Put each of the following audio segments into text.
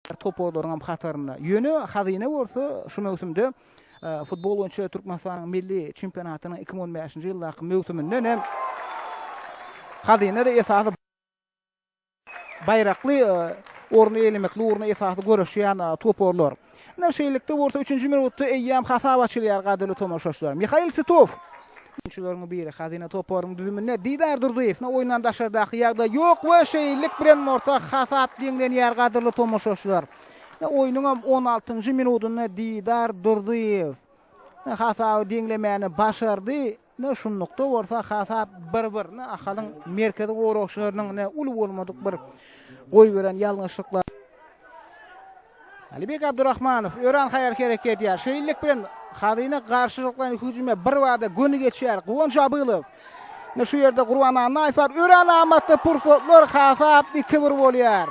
toparlaryň hem hatarynda. Ýöne Hazyna bolsa şu möwsümde futbol boýunça Türkmenistanyň milli çempionatynyň iki müň on bäşinji ýyldaky möwsüminden hem Hazyna-da esasy baýrakly orny eýlemekli ugrunda esasy göreşýän toparlar. Ine, şeýlelikde bolsa üçünji minutda eýýäm hasap açylýar, gadyryly tomaşaçylar. Mihail Titow Hüjümçileriň biri Hazyna toparynyň düzüminde Didar Durdyýew oýundan daşardaky ýagdaý ýok we şeýlelik bilen orta hasap deňlenýär gadyrly tomaşaçylar. Oýnuň hem on altynjy minudynda Didar Durdyýew hasaby deňlemäni başardy. Ne şunlukda bolsa hasap bir-bir. Ne Ahalyň merkezi goragçylarynyň ne uly bolmadyk bir goýberen ýalňyşlyklar. Alibek Abdurahmanow öran haýal hereket edýär. Şeýlelik bilen Hazyna garşylyklaýyn hüjüme birbada göni geçýär. Guwanç Abylow. Ine şu ýerde Gurban Annaýew bar. Öran amatly pursatlar hasap iki-bir bolýar.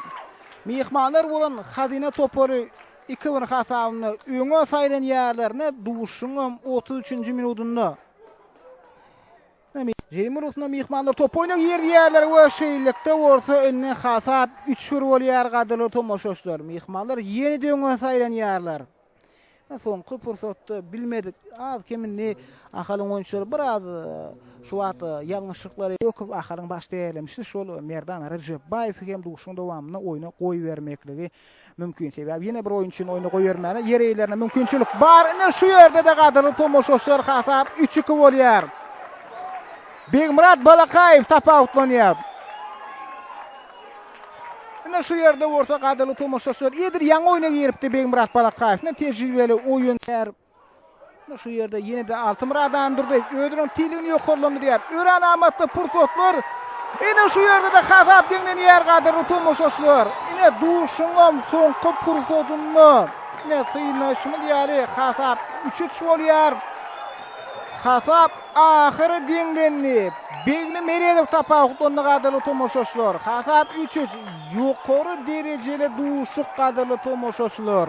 Myhmanlar bolan Hazyna topary iki-bir hasabynda öňe saýlanýarlar. Ine duşuşygyň hem otuz üçünji minudynda. Jemi Rusna myhmanlar top oýnag ýerýärler we şeýlelikde bolsa indi hasap üç bir bolýar gadyrly tomaşaçylar. Myhmanlar ýenide öňe saýlanýarlar. Soňky pursatda bilmedik az kem indi Ahalyň oýunçylary biraz şu wagt ýalňyşlyklary Gökow Ahalyň baş tälimçisi şol Merdan Rejepbaýewi hem duşuşygyň dowamynda oýna goýbermekligi Mümkin, sebäbi ýene bir oýunçyny oýna goýbermäne ýer eýelerine mümkinçilik bar. Ine, şu ýerde-de gadyrly tomaşaçylar hasap üç-iki bolýar. Begmyrat Balakaýew tapawutlanýar. Ine, şu ýerde bolsa gadyrly tomaşaçylar edil ýaňy oýna giripdi Begmyrat Balakaýew. Ine, tejribeli oýun. Şu ýerde ýene-de Altymyradan durdy. Özüniň tiligini ýokarlandyrýar. Örän amatly pursatlar. Ene şu ýerde-de hasap deňlenýär gadyrly tomaşaçylar. Ene duşuňam soňky pursatynda. Ene synanyşymyz ýaly hasap 3-3 bolýar. Hasap ahyry deňlendi. Begli Meredow tapawutlandy gadyrly tomaşaçylar. Hasap 3-3. Ýokary derejeli duşuk gadyrly tomaşaçylar.